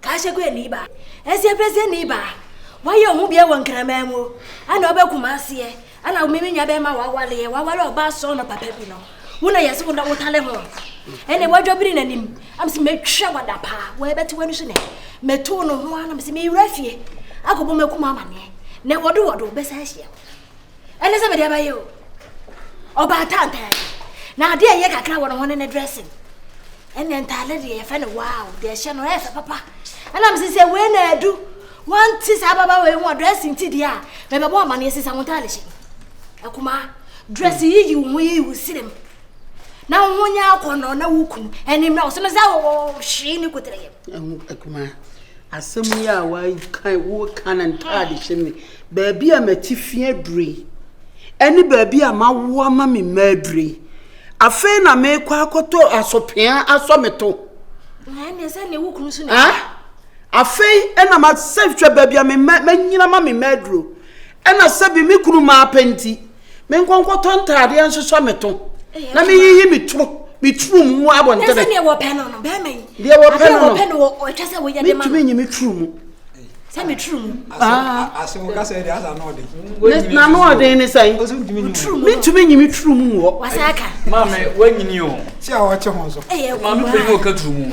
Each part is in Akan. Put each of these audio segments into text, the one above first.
Kashekwe ni ba, Asiapesia ni ba, wayɛ wo ho bia wɔ Nkraman mu, ɛna wobɛ Kumasi ɛ, ɛna me menya bɛma wawale ɛ, wawale ɔba sɔɔ no papa bi no, wo na yɛse wo na wotale ho, ɛne wadwa biri n'anim, na mese mɛtwa wada paa, wɔɛbɛte w'ani so nɛ, mɛtoo no ho a na mese mewura fie, akɔbɔ m'akuma amaneɛ, nɛ wɔdo wɔdo bɛsa ahyia. ɛne sɛ mede ɛbɛyɛ o ɔbaa tantan na adeɛ ɛyɛ kakra wɔ ne ho ne ne dressing ɛne ntaade deɛ yɛfɛ no wow deɛ ɛhyɛ no ɛyɛ fɛ papa ɛnam sɛ sɛ wei na adu wanti saa baba wei ho dressing ti deɛ a mɛbɛbɔ amaneɛ sisa wo ntaade hyɛ akumaa dress yiyi wo ho yiyi wo sirem na wo ho nyɛ akɔnɔ na wo kunu ɛnim na wo so no sɛ wɔhwee ne kotere yɛm Asɛm yi a woaka yi, woreka no ntade hyɛ mu yi, baabi a mati fi aduru yi, ɛne baabi a mawo ama me mma aduru yi, afei na merekɔ akɔtɔ asopea asɔ me to. Afei na masɛ hwɛ baabi a me mma manyina ma me mma aduro. Ɛna sɛ bi me kunu maa pɛ nti, me nkɔ nkɔtɔ ntaadeɛ nsosɔ me to na me yiyi me turo me turo mu mu abɔ ntɛbɛ. Ɛsɛ deɛ wɔ pɛ no no bɛrima yi. Deɛ wɔ pɛ no no. Adeɛ wɔ pɛ no wɔ ɔtwa sɛ wɔyɛ de ma no. Metumi nyi me turo mu. Sɛ me turo mu. Ase wo kasa de asa n'ɔden. Na n'ɔden ne sɛn? Metumi nyi me turo mu wɔ. Wasa aka. Maame wanyini o. Si a ɔkye ho nso. Maame bɛyi wɔ ka turo mu.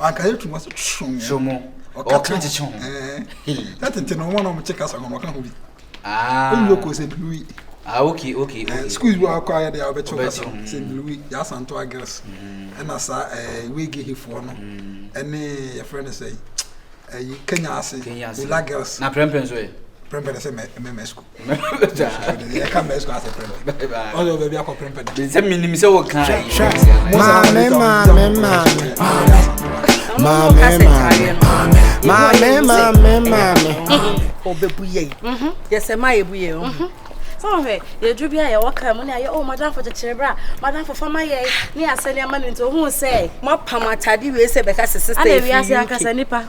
anka yɛ twuma so twom yɛ twom ɔka kyerɛ kyekye ho na tete no wɔn a wɔn kye kasa wɔn ɔka ho bi ah wɔn yɛ kɔ sɛ blue ah okay okay okay school bi akɔ ayɛ de a wɔbɛkyɛ kasa sɛ blue yɛ asanto agres ɛna saa ɛɛ wege hefoɔ no ɛne yɛfrɛ no sɛ ɛyi kenya ase wula girls na prɛmpɛ nso yɛ prɛmpɛ no sɛ mɛmɛ school sɛ yɛduru bi a yɛwɔ ka mu ne ayɛ o madamfo kyekyere berɛ a madamfo fa ma yɛe ne asɛne ama no nti ohuu sɛ moapam atade wei sɛ bɛka sɛ sista ɛfi wiase ankasa nipa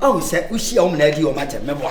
ɔhu sɛ wohyia wo mena adi ɔma kyɛ mɛboa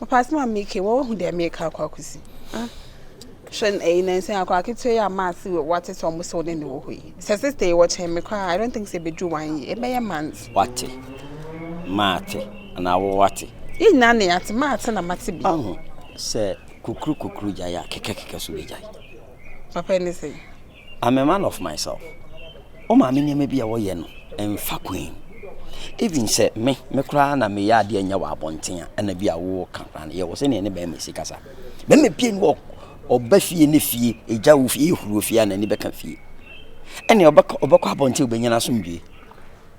Ɔpaase ma me ke wɔhu dɛ meka akɔ akosi hwɛ ɛyi nansan akɔ aketewa yi a maa se wate sɛ ɔmo sɛ ɔne ne wɔ hɔ yi sɛ sista yi wɔkyɛn me koraa I don't think sɛ ebedu one year ɛbɛyɛ months. Wate maa te anaa wo wate. Yɛn nyinaa na yɛate maa te na mate bi. Ɔho sɛ kukuru kukuru gyae a kɛkɛ kɛkɛ so bɛgyae. Papa ɛne sɛ. I'm a man of myself, wo maame nneɛma bi a wɔyɛ no mfa kwan. Even sɛ me, me koraa na meyɛ adeɛ nyɛ wɔ abɔnten a, ɛna bi a woka koraa no, yɛwɔ sɛnea ne bɛrima si kasa. Bɛrima pie ni wɔ ɔba fie ne fie, egya wo fie, ehuru fie a n'ani bɛka fie. Ɛnea ɔbɛkɔ ɔbɛkɔ abɔnten obɛnya n'asomdwie.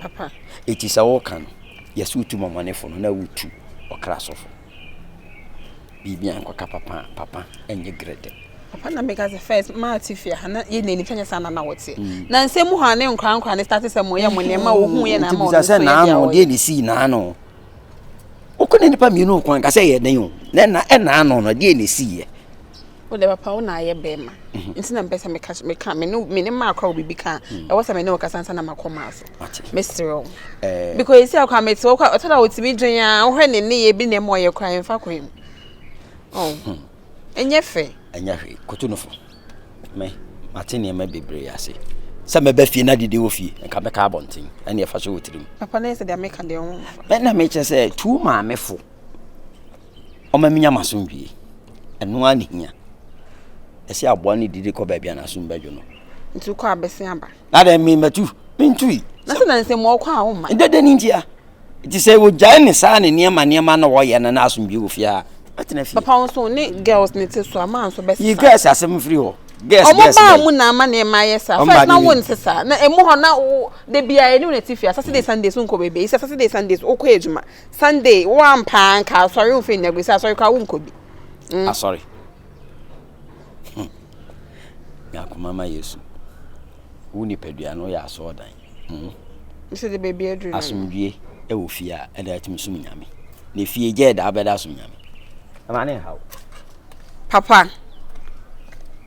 papa. Eti sɛ wo ka no yɛse wotu mɔmɔnefo no na wo tu ɔkra sɔfo biribia nkɔ ka papa a papa ɛnyɛ grɛdɛ. Papa na meka sɛ first maa te fie ha na yɛ nani fɛ nyɛ saa na na wɔteɛ mm. na nsɛm mu hɔ a ne nkora nkora ne start sɛ mo yɛ mo nneɛma wo hu yɛ na ama ɔno nso yɛ deɛ ɔyɛ. deɛ ne sii naano wokɔ ne nipa mmienu kwan ka sɛ yɛ den o na ɛna ɛnaano no deɛ ne sii yɛ wo deɛ papa wo na ayɛ bɛrima nti na mpɛ sɛ meka meka me ne me ne maa kora wo biribi ka ɛwɔ sɛ me ne wo kasa nsa na makɔ maa so mesrɛ wo because ɛsi akɔ a mete wo kɔ ɔtɔ da wotumi dwen a wohwɛ ne ne yɛ bi na ɛma ɔyɛ kora ɛmfa kwan mu ɛnyɛ fɛ ɛnyɛ hwee koto no fo me mate nneɛma bebree ase sɛ mɛbɛ fie na dede wɔ fie nka mɛka abɔnten ɛne ɛfa so wɔ tirim papa na ɛsɛ deɛ meka deɛ wo na mekyɛ sɛ tu maamefo ɔma minya m'asomdwoe. Ɛno ara na ehia. Ɛsɛ aboa no didi kɔ baabi a n'asom bɛdwo no. Nti wokɔ a bɛsen aba? Na dɛn me matu? Mentui. Na sɛ na nsɛm wɔkɔ a womma? Dɛ dɛn ntia? Nti sɛ wogyae ne saa ne nneɛma nneɛma na wɔyɛ no na asomdwoe wɔ fie a, bɛtena fie. Papa wo so ne girls ne te so a, maa nso bɛsesa. Yi girls asɛm firi hɔ. Girls girls. Ɔmo baa mu na ama nneɛma ayɛ saa. First na wo nsesa. Na emu hɔ na wo da biara ɛne wo na ɛte fie a Saturday Sundays wonkɔ baabi a. Yi sɛ Saturday Sundays wokɔ adwuma. Sunday wo ampa nka asɔre wo fɛ nyina gu sɛ asɔre kora wo nkɔ bi. Mm. Asɔre. Hmm. Nyakoma ma Yesu. Wo nipadua no yɛ asɔɔ dan. Hmm. Sɛ de baabi aduru no. Asomdwie ɛwɔ fie a ɛna ɛtumi som nyame. Na fie gya ɛda abɛda som nyame. Ɛma ne nhaw. Papa.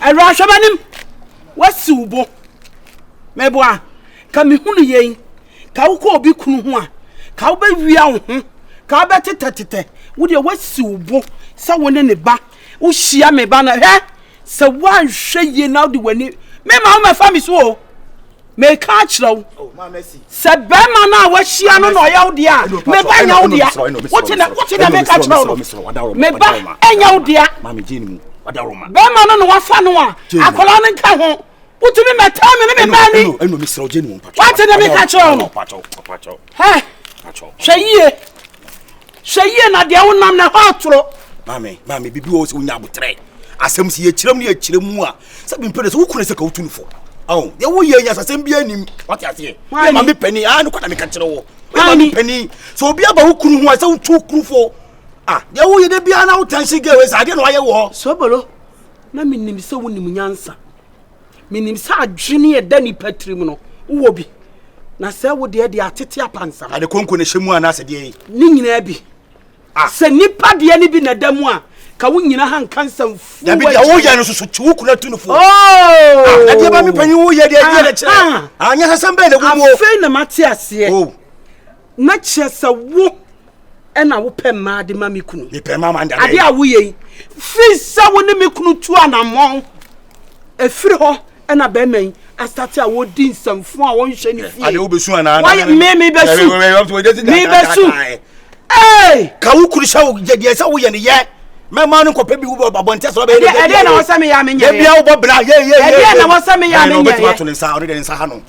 awura hwɛ m'anim wasiw bo meboa ka mehunu yei ka wokɔ obi kunu ho a ka wobɛwia wo ho ka wobɛtetɛtetɛ wodeɛ wasiw bo sɛ wo ne ne ba wohyia me ba no hwɛ sɛ woanhwɛ yie na wode w'ani mema womɛfa me so o Meka akyerɛ wo sɛ bɛrima no a wahyia no na ɔyɛ wo deɛ a meba nyɛ wo deɛ wote na wote na meka kyerɛ wo no meba nyɛ wo deɛ bɛrima no na wafa no a akwadaa no nka ho wotumi mɛtaa me ne me baa ni wate ne meka kyerɛ wo no hwɛ yie Hwɛ yie na deɛ wonam na ɛhɔ atoro. Maame, maame, biribi wɔ sɛ wonya abotrɛ. Asɛm si yɛkyerɛ mu ne yɛkyerɛ mu a, sɛ mempɛ no sɛ wokunu sɛ ka wotu no fo. Ao, deɛ woyɛ nya sasɛm biara nim. Wate aseɛ? Yɛ maame panin, aa nokɔ na meka kyerɛ wo. Yɛ maame panin, sɛ obi aba wo kunu ho a, sɛ wotu kunu fo. Ah, deɛ woyɛ da biara na wo tansi gɛ wei sɛ adeɛ na wayɛ wɔ. Sobolo, na menim sɛ wonim nyansa. Menim sɛ adwene a ɛda nnipa tirim no, wowɔ bi. Na sɛ wo deɛ deɛ atete apansam. Ade konko na ɛhyɛ mu anaasɛ deɛ yi? Ne nyinaa bi. Ah. Sɛ nnipa deɛ no bi na ɛda mu a, ka wo nyina ha nka nsɛm fu. Dabi deɛ woyɛ no soso kyi wo kuna tu no fo. Oh! Ah, na deɛ ba me panyin woyɛ deɛ ɛdeɛ na kyerɛ. Anyasasɛm bɛɛ na ɛwɔ mu. Afei na mate aseɛ. Oh. Na kyerɛ sɛ wo ɛna wopɛ mmaa de ma me kunu ade a woyɛ yi firi sɛ wo ne me kunu tu anammɔn ɛfiri hɔ ɛna bɛrima yi asate a wɔdi nsɛmfo a wɔnhyɛ ne fie mebɛsu mebɛsu ka wo kuru sɛ deɛ sɛ woyɛ ne yɛ mɛma no nkɔpɛ bi wobɔ abɔnten sɛ ɔbɛyɛ ɛdeɛ na wɔsɛ meyɛ amenyɛyɛ ɛdeɛ na wɔsɛ meyɛ amenyɛyɛ